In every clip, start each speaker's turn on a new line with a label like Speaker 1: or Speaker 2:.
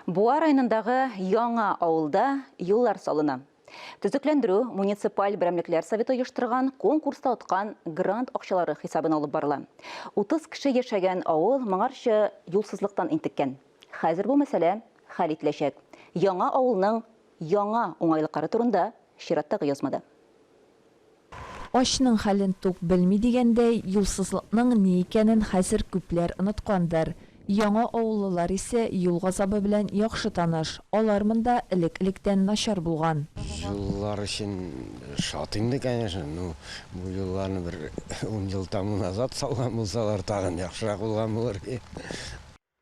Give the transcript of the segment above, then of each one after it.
Speaker 1: Буа районындагы Яңа авылда юллар салына. Төзекләндерү муниципаль берәмлекләр советы оештырган конкурста откан грант акчалары хисабына алып барыла. 30 кеше яшәгән авыл моңарчы юлсызлыктан интеккән. Хәзер бу мәсьәлә хәл ителәчәк. Яңа авылның яңа уңайлыклары турында чираттагы язмада. Ачның
Speaker 2: хәлен тук белми дигәндәй, юлсызлыкның ни икәнен хәзер күпләр оныткандыр. Яңа авыллылар исә юл газабы белән яхшы таныш, алар монда элек-электән начар булган. Юллар өчен
Speaker 3: шат инде, конечно. Ну, бу юлларны бер ун ел тәмуг назад салган булсалар, тагын яхшырак булган булыр иде.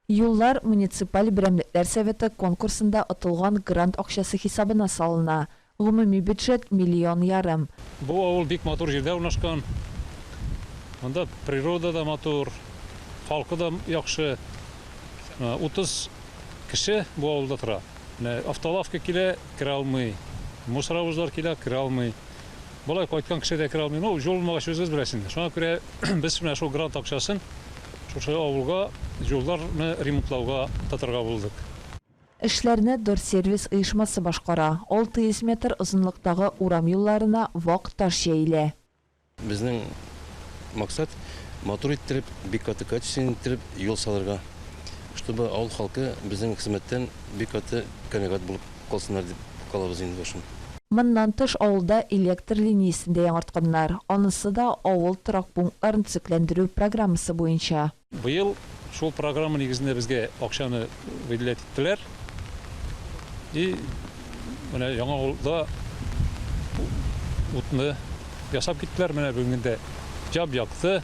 Speaker 2: Юллар муниципаль берәмлекләр советы конкурсында отылган грант акчасы хисабына салына. Гомуми бюджет, миллион ярым. Бу авыл бик
Speaker 4: матур җирдә урнашкан. Монда природа да матур, халкы да яхшы. Утыз кеше бу авылда тора. Менә автолавка килә, керә алмый. Мусоровозлар килә, керә алмый. Болай кайткан кеше дә керә алмый. Ну, җул булмагач, үзегез беләсез инде. Шуңа күрә без менә шул грант акчасын шушы авылга җулларны ремонтлауга тотарга булдык. Эшләрне
Speaker 2: Дорсервис оешмасы башкара. 600 метр озынлыктагы урам юлларына вак таш җәелә. Безнең
Speaker 5: максат, матур иттереп, бик каты качественно иттереп юл салырга, чтобы авыл халкы безнең хезмәттән бик каты канәгать булып Калсыннар дип калабыз инде башын. Моннан тыш
Speaker 2: авылда электр линиясен дә яңартканнар, анысы да авыл торак пунктларын төзекләндерү программасы буенча. Быел
Speaker 4: шул программа нигезендә безгә акчаны выделять иттеләр и менә яңа авылда утны ясап киттеләр, менә бүгенге көндә җап якты,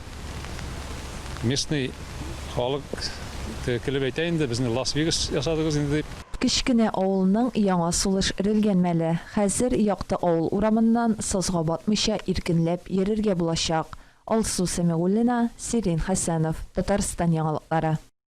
Speaker 4: местный халык килеп әйтә инде, безне Лас Вегас ясадыгыз инде дип. Кечкенә авылның
Speaker 2: яңа сулыш эрелгән мәле. Хәзер якты авыл урамыннан сазга батмыйча иркенләп йөрергә булачак. Алсу Сәмигуллина, Сирин Хәсәнов, Татарстан яңалыклары.